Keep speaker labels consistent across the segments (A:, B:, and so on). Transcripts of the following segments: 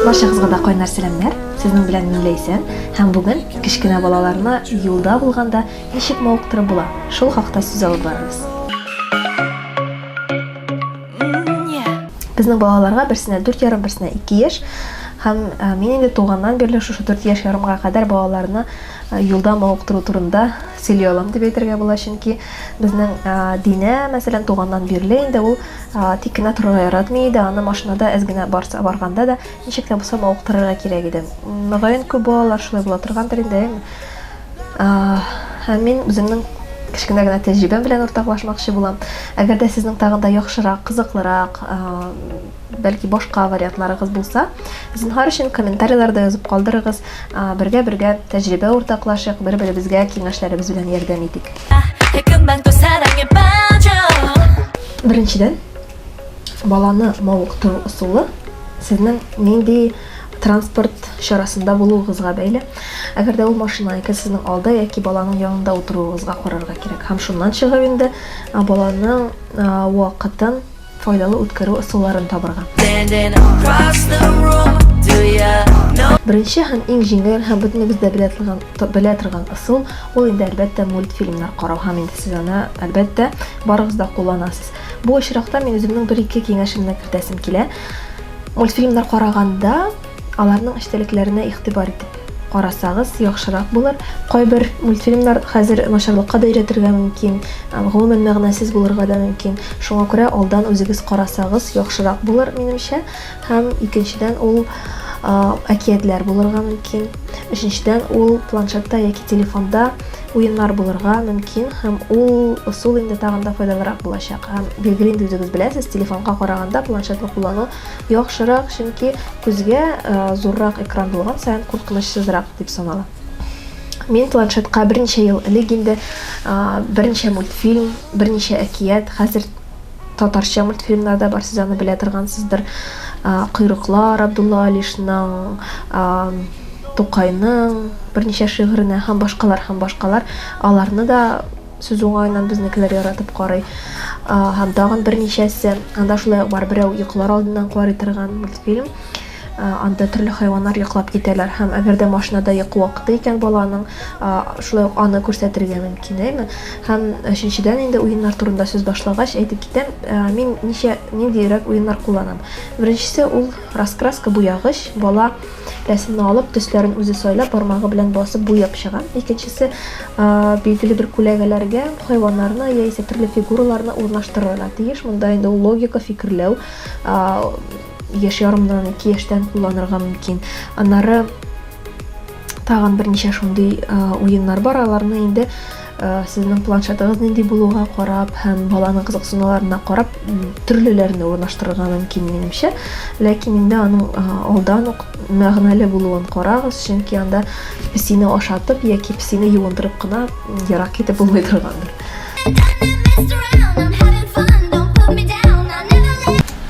A: Баршагызга да кайнар сәламнәр. Сезнең белән мин Ләйсән һәм бүген кечкенә балаларны юлда булганда ничек мавыктырып була, шул хакта сүз алып барабыз. Безнең балаларга берсенә 4 ярым, берсенә 2 яшь һәм мин инде туганнан бирле шушы 4 яшь ярымга кадәр балаларны юлда мавыктыру турында Сөйли алам дип әйтергә була, чөнки безнең Динә, мәсәлән, туганнан бирле инде ул тик кенә торырга яратмый иде, аны машинада әз генә барса, барганда да ничек тә булса мавыктырырга кирәк иде. Мөгаен, күп балалар шулай була торгандыр инде, әйеме? Һәм мин үземнең кечкенә генә тәҗрибәм белән уртаклашмакчы булам. Әгәр дә сезнең тагын да яхшырак, кызыклырак, бәлки башка вариантларыгыз булса, зинһар өчен комментарийларда язып калдырыгыз. Бергә-бергә тәҗрибә уртаклашыйк, бер-беребезгә киңәшләребез белән ярдәм итик. Беренчедән, баланы мавыктыру ысулы сезнең нинди транспорт чарасында булуыгызга бәйле. Әгәр дә ул машина икән, сезнең алда яки баланың янында утыруыгызга карарга кирәк. Һәм шуннан чыгып инде баланың вакытын Файдалы үткәрү ысулларын табырга. Беренче һәм иң җиңел һәм бөтенебез дә белә торган, белә торган ысул, ул инде әлбәттә мультфильмнар карау һәм инде сез аны әлбәттә барыгыз да кулланасыз. Бу очракта мин үземнең бер-ике киңәшемне кертәсем килә. Мультфильмнар караганда Аларның эчтәлекләренә игътибар итеп карасагыз, яхшырак булыр. Кайбер мультфильмнар хәзер начарлыкка да өйрәтергә мөмкин, гомумән мәгънәсез булырга да мөмкин. Шуңа күрә алдан үзегез карасагыз, яхшырак булыр, минемчә. Һәм икенчедән, ул әкиятләр булырга мөмкин. Өченчедән, ул планшетта яки телефонда уеннар булырга мөмкин һәм ул ысул инде тагын да файдалырак булачак. Һәм билгеле инде үзегез беләсез, телефонга караганда планшетны куллану Яхшырак, чөнки күзгә зуррак экран булган саен куркынычсызрак дип санала. Мин планшетка берничә ел элек инде берничә мультфильм, берничә әкият, хәзер татарча мультфильмнар да бар, сез аны белә торгансыздыр. Койрыклар, Абдулла Алишның, Тукайның берничә шигыренә һәм башкалар һәм башкалар аларны да Сүз уңаеннан безнекеләр яратып карый. Һәм тагын берничәсе. Анда шулай ук бар, берәү йоклар алдыннан карый торган мультфильм. Анда төрле хайваннар йоклап китәләр һәм әгәр дә машинада йокы вакыты икән баланың, шулай ук аны күрсәтергә мөмкин, әйме? Һәм өченчедән инде уеннар турында сүз башлагач әйтеп китәм, мин ничә, ниндиерәк уеннар кулланам. Беренчесе ул раскраска, буягыч, бала. Рәсемне алып, төсләрен үзе сайлап, бармагы белән басып буяп чыга. Икенчесе билгеле бер күләгәләргә хайваннарны яисә төрле фигураларны урнаштырырга тиеш. Монда инде логика, фикерләү яшь ярымнан ике яшьтән кулланырга мөмкин. Аннары тагын берничә шундый уеннар бар, аларны инде Сезнең планшетыгыз нинди булуга карап һәм баланың кызыксынуларына карап төрлеләрне урнаштырырга мөмкин минемчә. Ләкин инде аның алдан ук мәгънәле булуын карагыз, чөнки анда песине ашатып яки песине юындырып кына ерак китеп булмый торгандыр.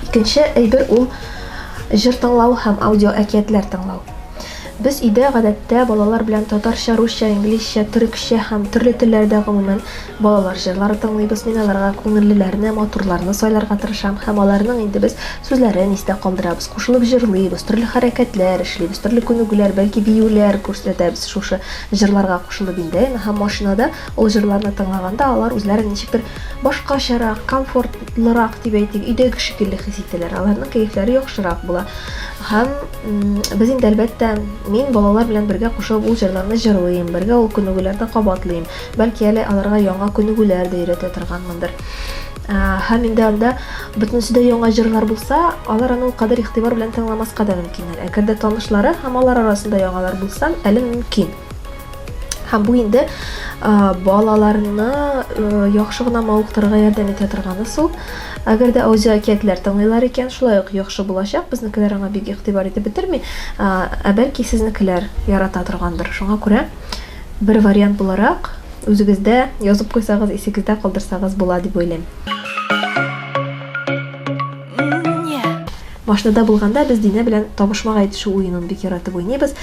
A: Икенче әйбер ул җыр тыңлау һәм аудио әкиятләр тыңлау. Без өйдә, гадәттә, балалар белән татарча, русча, инглизчә, төрекчә һәм төрле телләрдә, гомумән, балалар җырлары тыңлыйбыз. Мин аларга күңеллеләрне, матурларны сайларга тырышам һәм аларның инде без сүзләрен истә калдырабыз, кушылып җырлыйбыз, төрле хәрәкәтләр эшлибез, төрле күнегүләр, бәлки биюләр күрсәтәбез шушы җырларга кушылып инде, әйме, һәм машинада ул җырларны тыңлаганда алар үзләрен ничектер башкачарак, комфортлырак дип әйтик, өйдәге шикелле хис итәләр, аларның кәефләре яхшырак була. Һәм без инде әлбәттә, мин балалар белән бергә кушып ул җырларны җырлыйм, бергә ул күнегүләрне кабатлыйм. Бәлки әле аларга яңа күнегүләр дә өйрәтә торганмындыр. Һәм инде анда бөтенесе дә яңа җырлар булса, алар аны ул кадәр игътибар белән тыңламаска да мөмкиннәр. Әгәр дә танышлары һәм алар арасында яңалар булса, әле мөмкин. һәм бу инде балаларны яхшы гына мавыктырырга ярдәм итә торган ысул әгәр дә аудиоәкиятләр тыңлыйлар икән шулай ук яхшы булачак безнекеләр аңа бик игътибар итеп бетерми ә бәлки сезнекеләр ярата торгандыр шуңа күрә бер вариант буларак үзегездә язып куйсагыз исегездә калдырсагыз була дип уйлыйм Машинада булганда без Динә белән табышмак әйтешү уенын бик яратып уйныйбыз.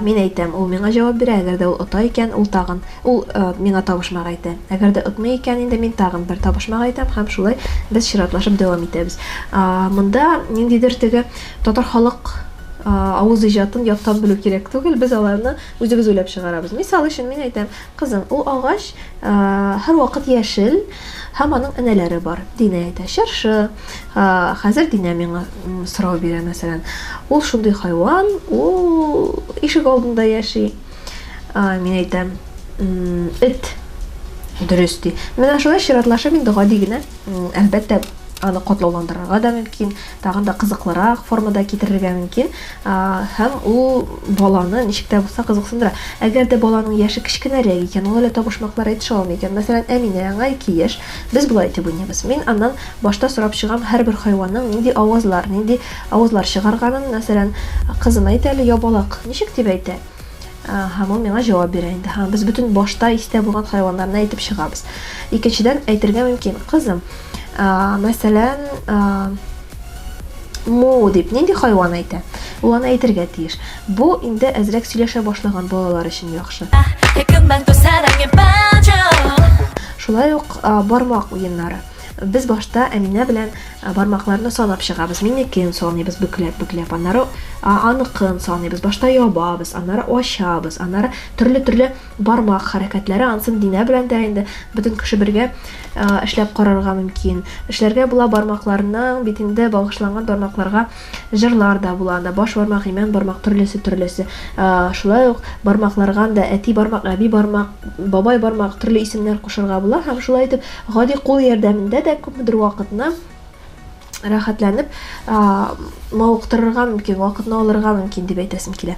A: Мин әйтәм, ул миңа җавап бирә, әгәр дә ул ота икән, ул тагын ул миңа табышмак әйтә. Әгәр дә отмый икән, инде мин тагын бер табышмак әйтәм һәм шулай без чиратлашып дәвам итәбез. Монда ниндидер теге татар халык авыз иҗатын яттан белү кирәк түгел, без аларны үзебез уйлап чыгарабыз. Мисал өчен мин әйтәм, Кызым, ул агач һәрвакыт яшел һәм аның энәләре бар. Динә әйтә, чыршы. Хәзер Динә миңа сорау бирә, мәсәлән. Ул шундый хайван, ул ишек алдында яши. Мин әйтәм, эт. Дөрес, ди. Менә шулай чиратлашып инде гади генә. Әлбәттә, аны катлауландырырга да мөмкин, тагын да кызыклырак формада китерергә мөмкин, һәм ул баланы ничек тә булса кызыксындыра. Әгәр дә баланың яше кечкенәрәк икән, ул әле табышмаклар әйтешә алмый икән, мәсәлән, Әминә, аңа ике яшь, без болай итеп уйныйбыз. Мин аннан башта сорап чыгам һәрбер хайванның нинди авазлар, нинди авазлар чыгарганын, мәсәлән, кызым, әйт әле, ябалак ничек дип әйтә? Һәм ул миңа җавап бирә инде. Һәм без бөтен башта истә булган хайваннарны әйтеп чыгабыз. Икенчедән, әйтергә мөмкин, кызым, мәсәлән, му дип нинди хайван әйтә? Ул аны әйтергә тиеш. Бу инде әзрәк сөйләшә башлаган балалар өчен яхшы. Шулай ук бармак уеннары. Без башта Әминә белән бармакларны санап чыгабыз, минекен саныйбыз бөкләп-бөкләп, аннары аныкын саныйбыз, башта ябабыз, аннары ачабыз, аннары төрле-төрле бармак хәрәкәтләре, ансын Динә белән дә инде бөтен кеше бергә эшләп карарга мөмкин. Эшләргә була бармакларның битендә багышланган бармакларга җырлар да була, анда баш бармак, имән бармак, төрлесе-төрлесе. Шулай ук бармакларга анда әти бармак, әби бармак, бабай бармак төрле исемнәр кушырга була һәм шулай итеп гади кул ярдәмендә дә күпмедер вакытны рәхәтләнеп мавыктырырга мөмкин, вакытны алырга мөмкин дип әйтәсем килә.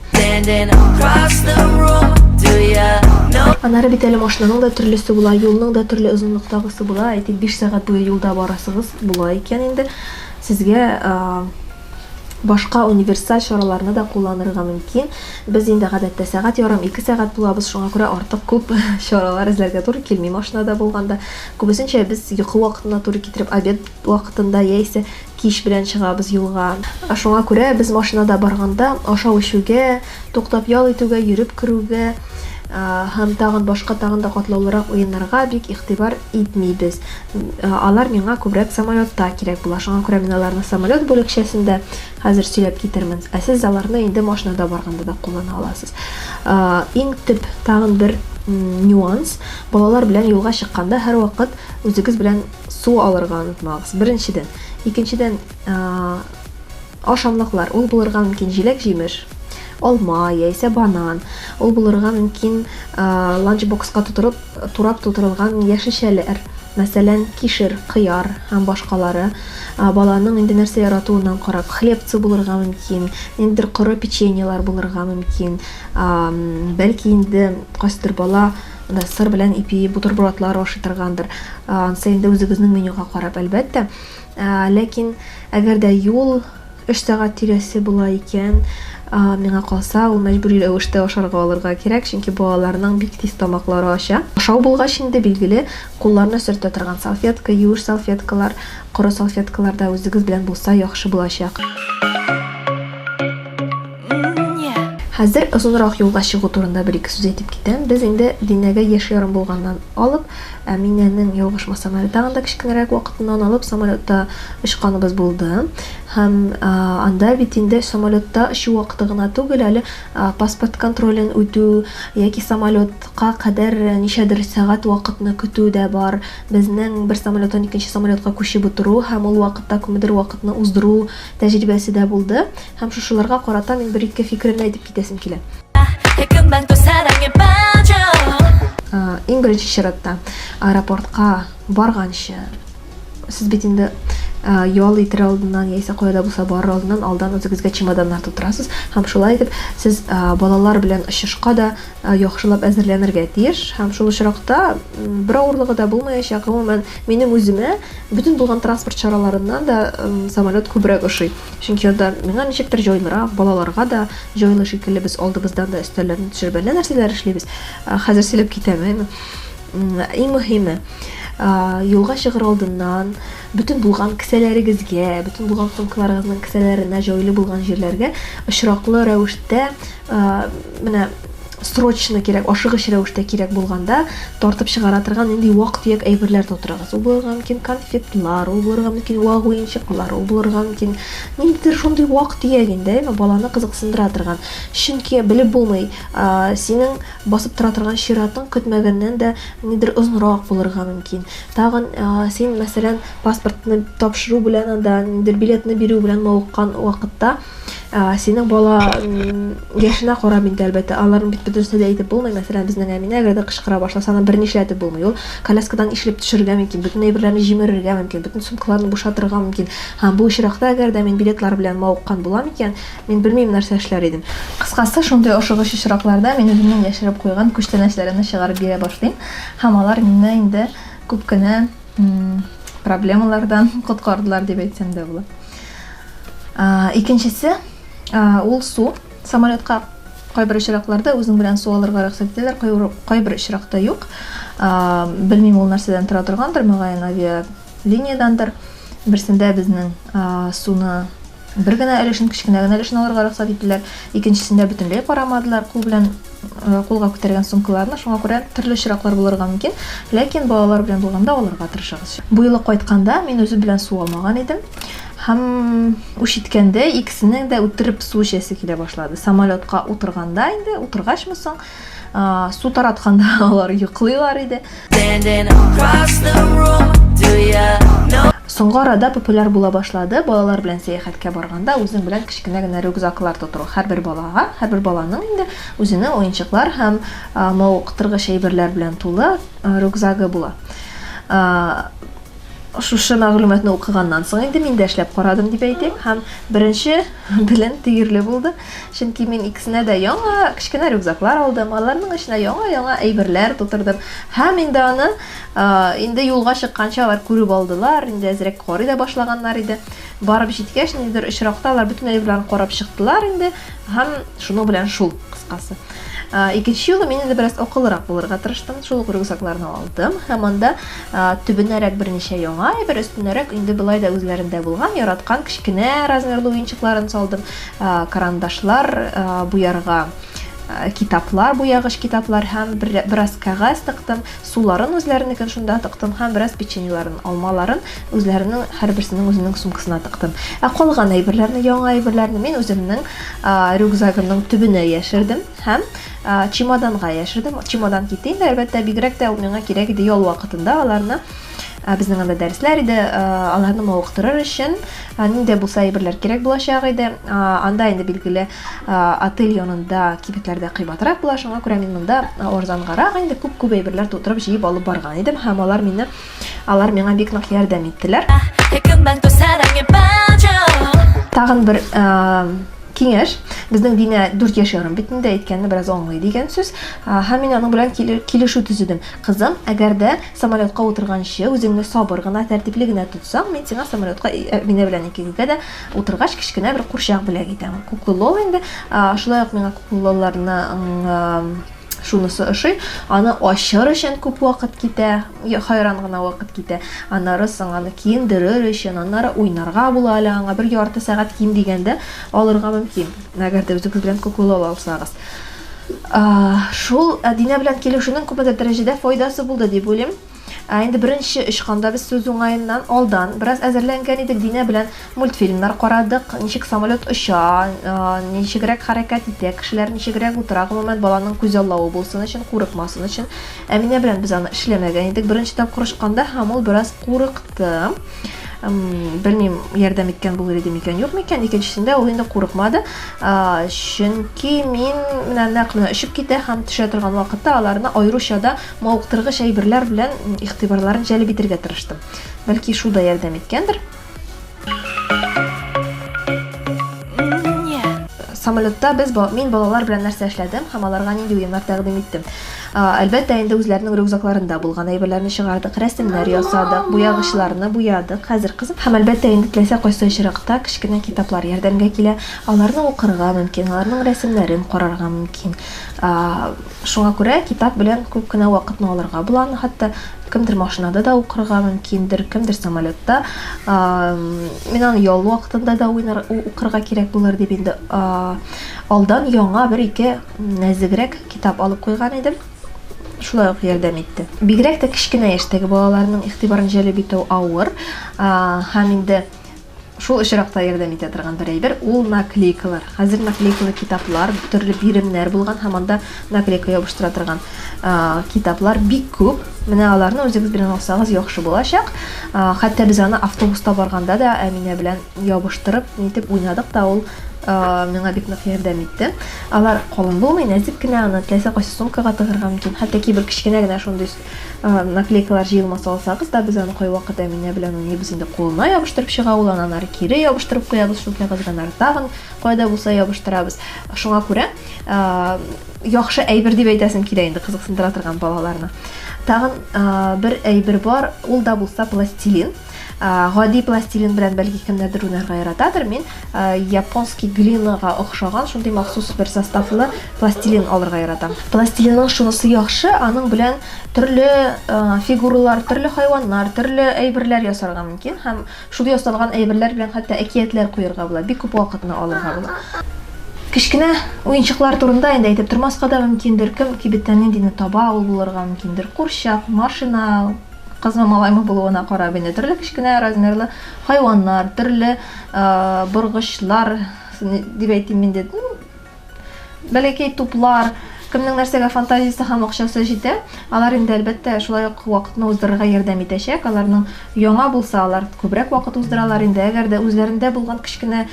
A: Анары бит әле машинаның да төрлесе була, юлның да төрле озынлыктагысы була. Әйтик, 5 сәгать буе юлда барасыгыз була икән инде. Сезгә Башка универсаль чараларны да кулланырга мөмкин. Без инде гадәттә сәгать ярым, ике сәгать булабыз, шуңа күрә артык күп чаралар эзләргә туры килми машинада булганда. Күбесенчә без йокы вакытына туры китереп, обед вакытында яисә кич белән чыгабыз юлга. Шуңа күрә без машинада барганда ашау-эчүгә, туктап ял итүгә, йөреп керүгә һәм тагын башка тагын да катлаулырак уеннарга бик игътибар итмибез. Алар миңа күбрәк самолетта кирәк була. Шуңа күрә мин аларны самолет бүлекчәсендә хәзер сөйләп китермен. Ә сез аларны инде машинада барганда да куллана аласыз. Иң төп тагын бер нюанс, балалар белән юлга чыкканда һәрвакыт үзегез белән су алырга онытмагыз. Беренчедән, икенчедән, Ашамлыклар, ул булырга мөмкин җиләк-җимеш, алма яисә банан, ул булырга мөмкин ланчбокска тутырып, турап тутырылган яшелчәләр, мәсәлән, кишер, кыяр һәм башкалары. Баланың инде нәрсә яратуыннан карап, хлебцы булырга мөмкин, ниндидер коры печеньелар булырга мөмкин. Бәлки инде кайсыдыр бала сыр белән ипи бутербродлар ашый торгандыр. Ансы инде үзегезнең менюга карап, әлбәттә. Ләкин, әгәр дә юл өч сәгать тирәсе була икән, миңа калса, ул мәҗбүри рәвештә ашарга алырга кирәк, чөнки балаларның бик тиз тамаклары ача. Ашау булгач инде, билгеле, кулларны сөртә торган салфетка, юеш салфеткалар, коры салфеткалар да үзегез белән булса яхшы булачак. Хәзер озынрак юлга чыгу турында бер-ике сүз әйтеп китәм. Без инде Динәгә яшь ярым булганнан алып, Әминәнең, ялгышмасам әле, тагын да кечкенәрәк вакытыннан алып самолетта очканыбыз булды. Һәм анда бит инде самолетта очу вакыты гына түгел, әле паспорт контролен үтү яки самолетка кадәр ничәдер сәгать вакытны көтү дә бар. Безнең бер самолеттан икенче самолетка күчеп утыру һәм ул вакытта күпмедер вакытны уздыру тәҗрибәсе дә булды. Һәм шушыларга карата мин бер-ике фикеремне әйтеп китәсем килә. Иң беренче чиратта, аэропортка барганчы, сез бит инде ял итер алдыннан яисә кая да булса барыр алдыннан алдан үзегезгә чемоданнар тутырасыз һәм шулай итеп сез балалар белән очышка да яхшылап әзерләнергә тиеш һәм шул очракта бер авырлыгы да булмаячак гомумән минем үземә бөтен булган транспорт чараларыннан да самолет күбрәк ошый Чөнки анда миңа ничектер җайлырак, балаларга да җайлы шикелле без алдыбыздан да өстәлләрне төшереп әллә нәрсәләр эшлибез. Хәзер сөйләп китәмен. Иң мөһиме, юлга чыгыр алдыннан бөтен булган кесәләрегезгә, бөтен булган сумкаларыгызның кесәләренә, җайлы булган җирләргә очраклы рәвештә Менә срочно кирәк, ашыгыч рәвештә кирәк булганда тартып чыгара торган нинди вак-төяк әйберләр тутырыгыз. Ул булырга мөмкин конфетлар, ул булырга мөмкин вак уенчыклар, ул булырга мөмкин ниндидер шундый вак-төяк инде, әйме, баланы кызыксындыра торган. Чөнки белеп булмый, синең басып тора торган чиратың көтмәгәннән дә нидер озынрак булырга мөмкин. Тагын син, мәсәлән, паспортны тапшыру белән анда, нидер билетны бирү белән мавыккан вакытта, ә, синең бала яшенә карап инде әлбәттә аларның бит бөтенесе дә әйтеп булмый мәсәлән безнең әминә әгәр дә кычкыра башласа аны берни эшләтеп булмый ул коляскадан ишлеп төшерергә мөмкин бөтен әйберләрне җимерергә мөмкин бөтен сумкаларны бушатырга мөмкин һәм бу очракта әгәр дә мин билетлар белән мавыккан булам икән мин белмим нәрсә эшләр идем кыскасы шундый
B: ошыгыч очракларда мин үземнең яшереп куйган күчтәнәчләремне чыгарып бирә башлыйм һәм алар мине инде күп кенә проблемалардан коткардылар дип әйтсәм дә була икенчесе ул су самолетка кайбер очракларда үзең белән су алырга рөхсәт итәләр кайбер очракта юк белмим ул нәрсәдән тора торгандыр мөгаен авиалиниядәндер берсендә безнең суны Бер генә өлешен, кечкенә генә өлешен алырга рөхсәт иттеләр. Икенчесендә бөтенләй карамадылар, кул белән э, кулга күтәргән сумкаларны. Шуңа күрә төрле очраклар булырга мөмкин. Ләкин балалар белән булганда алырга тырышыгыз. Бу юлы кайтканда мин үзе белән су алмаган идем. Һәм үч иткәндә икесенең дә үтереп су эчәсе килә башлады. Самолетка утырганда инде, утыргачмы соң, Су таратканда алар йоклыйлар иде. Соңгы арада популяр була башлады. Балалар белән сәяхәткә барганда үзең белән кечкенә генә рюкзаклар тотыру. Һәрбер балага, һәрбер баланың инде үзенең уенчыклар һәм мавыктыргыч әйберләр белән тулы рюкзагы була. Шушы мәгълүматны укыганнан соң инде мин дә эшләп карадым дип әйтим һәм беренче белем тигерле булды. Чөнки мин икесенә дә яңа кечкенә рюкзаклар алдым, аларның эченә яңа-яңа әйберләр тутырдым. Һәм инде аны инде юлга чыкканча алар күреп алдылар, инде әзрәк карый да башлаганнар иде. Барып җиткәч, ниндидер очракта алар бөтен әйберләрен карап чыктылар инде һәм шуның белән шул кыскасы. Икенче юлы мин инде бераз акыллырак булырга тырыштым. Шул ук рюкзакларны алдым һәм анда төбенәрәк берничә яңа әйбер, өстенәрәк инде былай да үзләрендә булган, яраткан кечкенә размерлы уенчыкларын салдым. карандашлар буярга китаплар буягыч китаплар һәм бераз кәгазь тыктым суларын үзләренекен шунда тыктым һәм бераз печеньеларын алмаларын үзләренең һәрберсенең үзенең сумкасына тыктым ә калган әйберләрне яңа әйберләрне мин үземнең рюкзагымның төбенә яшердем һәм чемоданга яшердем чемодан китте инде әлбәттә бигрәк тә ул миңа кирәк иде ял вакытында аларны Ә безнең анда дәресләр иде, аларны мавыктырыр өчен нинди булса әйберләр кирәк булачак иде. Анда инде билгеле отель янында кибетләрдә кыйбатрак була, шуңа күрә мин монда арзангарак инде күп-күп әйберләр тутырып җыеп алып барган идем һәм алар мине алар миңа бик нык ярдәм иттеләр. Тагын бер киңәш, безнең Динә 4 яшь ярым бит инде, әйткәнне бераз аңлый дигән сүз. Һәм мин аның белән килешү төзедем. Кызым, әгәр дә Самолетка утырганчы үзеңне сабыр гына, тәртипле генә тотсаң, мин сиңа самолетка Әминә белән икегезгә дә утыргач кечкенә бер курчак бүләк итәм. Куклы лол инде. Шулай ук миңа куклы лолларның шунысы ошый, аны ачыр өчен күп вакыт китә, хайран гына вакыт китә. Аннары соң аны киендерер өчен, аннары уйнарга була әле аңа, бер ярты сәгать ким дигәндә алырга мөмкин, әгәр дә үзегез белән куклы лол алсагыз. Шул Динә белән килешүнең күпмедер дәрәҗәдә файдасы булды дип уйлыйм. Инде беренче очканда без сүз уңаеннан алдан бераз әзерләнгән идек. Динә белән мультфильмнар карадык, ничек самолет оча, ничегрәк хәрәкәт итә, кешеләр ничегрәк утыра, гомумән, баланың күзаллавы булсын өчен, курыкмасын өчен. Әминә белән без аны эшләмәгән идек беренче тапкыр очканда һәм ул бераз курыкты. курыкты белмим ярдәм иткән булыр иде микән юк микән икенчесендә ул инде курыкмады чөнки мин менә нәкъ менә очып китә һәм төшә торган вакытта аларны аеруча да мавыктыргыч әйберләр белән игътибарларын җәлеп итәргә тырыштым бәлки шул да ярдәм иткәндер самолетта без мин балалар белән нәрсә эшләдем һәм аларга нинди уеннар тәкъдим иттем Әлбәттә, инде үзләренең рюкзакларында булган әйберләрне чыгардык, рәсемнәр ясадык, буягычларны буядык. Хәзер кызып һәм, әлбәттә, инде теләсә кайсы очракта кечкенә китаплар ярдәмгә килә. Аларны укырга мөмкин, аларның рәсемнәрен карарга мөмкин. Шуңа күрә китап белән күп кенә вакытны алырга була. Аны хәтта кемдер машинада да укырга мөмкиндер, кемдер самолетта. Мин аны ял вакытында да укырга кирәк булыр дип инде алдан яңа бер-ике нәзегрәк китап алып куйган идем. Шулай ук ярдәм итте. Бигрәк тә кечкенә яшьтәге балаларның игътибарын җәлеп итү авыр, һәм инде шул очракта ярдәм итә торган бер әйбер ул наклейкалар. Хәзер наклейкалы китаплар, төрле биремнәр булган һәм анда наклейка ябыштыра торган китаплар бик күп. Менә аларны үзегез белән алсагыз яхшы булачак. Хәтта без аны автобуста барганда да Әминә белән ябыштырып нитеп уйнадык та ул миңа бик нык ярдәм итте алар калын булмый нәзек кенә аны теләсә кайсы сумкага тыгырга мөмкин хәтта кибер кечкенә генә шундый наклейкалар җыелмасы алсагыз да без аны кайвакыт әминә белән уйныйбыз инде кулына ябыштырып чыга ул аны анары кире ябыштырып куябыз шул кәгазьгә анары тагын кайда булса ябыштырабыз шуңа күрә яхшы әйбер дип әйтәсем килә инде кызыксындыра торган балаларны тагын бер әйбер бар ул да булса пластилин Ә, гади пластилин белән бәлки кемнәрдер уйнарга яратадыр. Мин ә, японский глинага охшаган шундый махсус бер составлы пластилин алырга яратам. Пластилинның шунысы яхшы, аның белән төрле ә, фигуралар, төрле хайваннар, төрле әйберләр ясарга мөмкин һәм шул ясалган әйберләр белән хәтта әкиятләр куярга була. Бик күп вакытны алырга була. Кечкенә уенчыклар турында инде әйтеп тормаска да мөмкиндер. Кем кибеттән ниндине таба, ул булырга мөмкиндер. Курчак, машина, Кызмы, малаймы булуына карап инде, төрле кечкенә размерлы хайваннар, төрле боргычлар, дип әйтим инде, бәләкәй туплар, кемнең нәрсәгә фантазиясе һәм акчасы җитә, алар инде әлбәттә шулай ук вакытны уздырырга ярдәм итәчәк. Аларның яңа булса, алар күбрәк вакыт уздыралар инде. Әгәр дә үзләрендә булган кечкенә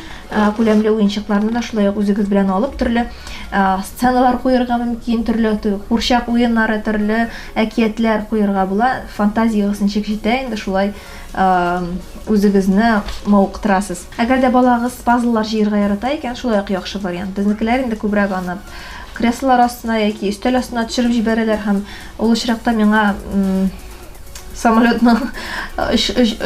B: күләмле уенчыкларны да шулай ук үзегез белән алып, төрле сценалар куерга мөмкин, төрле курчак уеннары, төрле әкиятләр куерга була. Фантазиягез ничек җитә инде шулай үзегезне мавыктырасыз. Әгәр дә балагыз пазллар җыерга ярата икән, шулай ук яхшы вариант. Безнекеләр инде күбрәк аны креслолар астына яки өстәл астына төшереп җибәрәләр һәм ул очракта миңа самолетның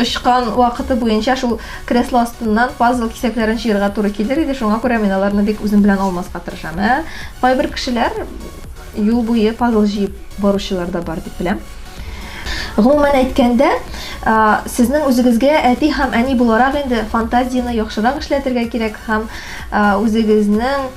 B: очкан вакыты буенча шул кресло астыннан пазл кисәкләрен җыерга туры килер иде, шуңа күрә мин аларны бик үзем белән алмаска тырышам. Ә кайбер кешеләр юл буе пазл җыеп баручылар да бар дип беләм. Гомумән әйткәндә, сезнең үзегезгә әти һәм әни буларак инде фантазияне яхшырак эшләтергә кирәк һәм үзегезнең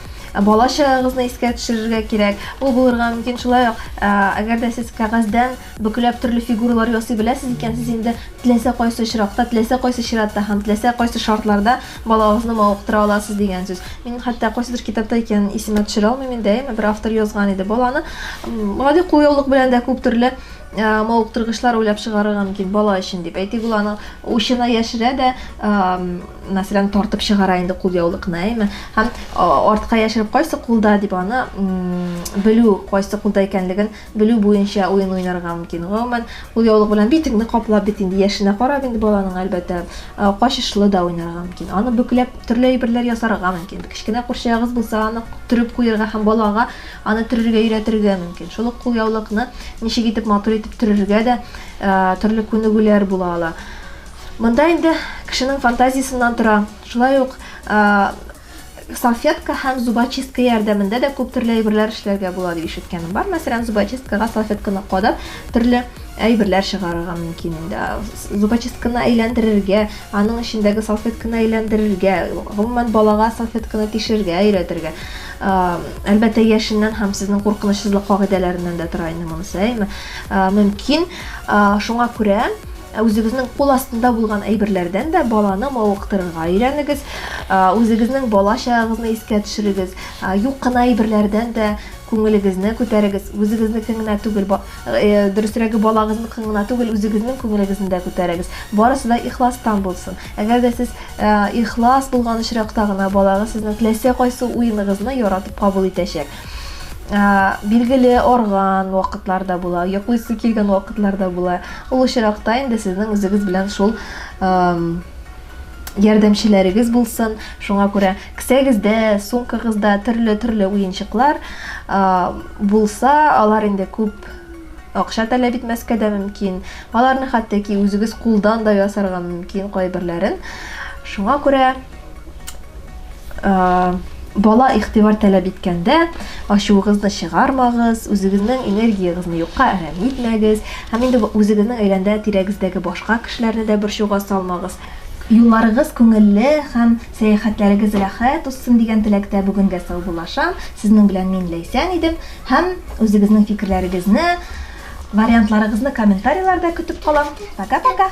B: бала чагыгызны искә төшерергә кирәк. Ул булырга мөмкин шулай ук, әгәр дә сез кәгазьдән Бөкләп төрле фигуралар ясый беләсез икән, сез инде теләсә кайсы очракта, теләсә кайсы чиратта һәм теләсә кайсы шартларда балагызны мавыктыра аласыз дигән сүз. Мин хәтта кайсыдыр китапта икәнен исемә төшерә алмыйм инде, әйеме, бер автор язган иде, баланы гади кулъяулык белән дә күп төрле мавыктыргычлар уйлап чыгарырга мөмкин бала өчен дип. Әйтик, ул аның учына яшерә дә, мәсәлән, тартып чыгара инде кулъяулыкны, әйеме? Һәм артка яшереп, кайсы кулда дип аны белү, кайсы кулда икәнлеген Белү буенча уен уйнарга мөмкин. Гомумән, кулъяулык белән битеңне каплап, бит инде яшенә карап инде баланың, әлбәттә, качышлы да уйнарга мөмкин. Аны бөкләп, төрле әйберләр ясарга мөмкин. Кечкенә курчагыгыз булса, аны төреп куерга һәм балага аны төрергә өйрәтергә мөмкин. Шул ук кулъяулыкны ничек итеп матур итеп төрергә дә төрле күнегүләр була ала. Монда инде кешенең фантазиясеннән тора. Шулай ук салфетка һәм зубочистка ярдәмендә дә күп төрле әйберләр эшләргә була дип ишеткәнем бар. Мәсәлән, зубочисткага салфетканы кадап, төрле әйберләр чыгарырга мөмкин инде. Зубочистканы әйләндерергә, аның эчендәге салфетканы әйләндерергә, гомумән балага салфетканы тишергә өйрәтергә. Әлбәттә, яшеннән һәм сезнең куркынычсызлык кагыйдәләреннән дә тора инде монысы, әйме? Мөмкин, шуңа күрә Ә үзегезнең кул астында булган әйберләрдән дә баланы мавыктырырга өйрәнегез. Үзегезнең бала чагыгызны искә төшерегез. Юк кына әйберләрдән дә күңелегезне күтәрегез. Үзегезнекен генә түгел, э, дөресрәге балагызныкын гына түгел, үзегезнең күңелегезне дә күтәрегез. Барысы да ихластан булсын. Әгәр дә сез э, ихлас булган очракта гына балагыз сезнең теләсә кайсы уеныгызны яратып кабул итәчәк. Ә, билгеле, арган вакытлар да була, йоклыйсы килгән вакытлар да була. Ул очракта инде сезнең үзегез белән шул ярдәмчеләрегез булсын. Шуңа күрә кесәгездә, сумкагызда төрле-төрле уенчыклар булса, алар инде күп акча таләп итмәскә дә мөмкин. Аларны хәтта ки үзегез кулдан да ясарга мөмкин кайберләрен. Шуңа күрә Э, бала игътибар таләп иткәндә ачуыгызны чыгармагыз, үзегезнең энергияегезне юкка әрәм итмәгез. Һәм инде үзегезнең әйләндә тирәгездәге башка кешеләрне дә борчуга салмагыз. Юлларыгыз күңелле һәм сәяхәтләрегез рәхәт узсын дигән теләктә бүгенгә саубуллашам. Сезнең белән мин Ләйсән идем һәм үзегезнең фикерләрегезне, вариантларыгызны комментарийларда көтеп калам. Пока-пока.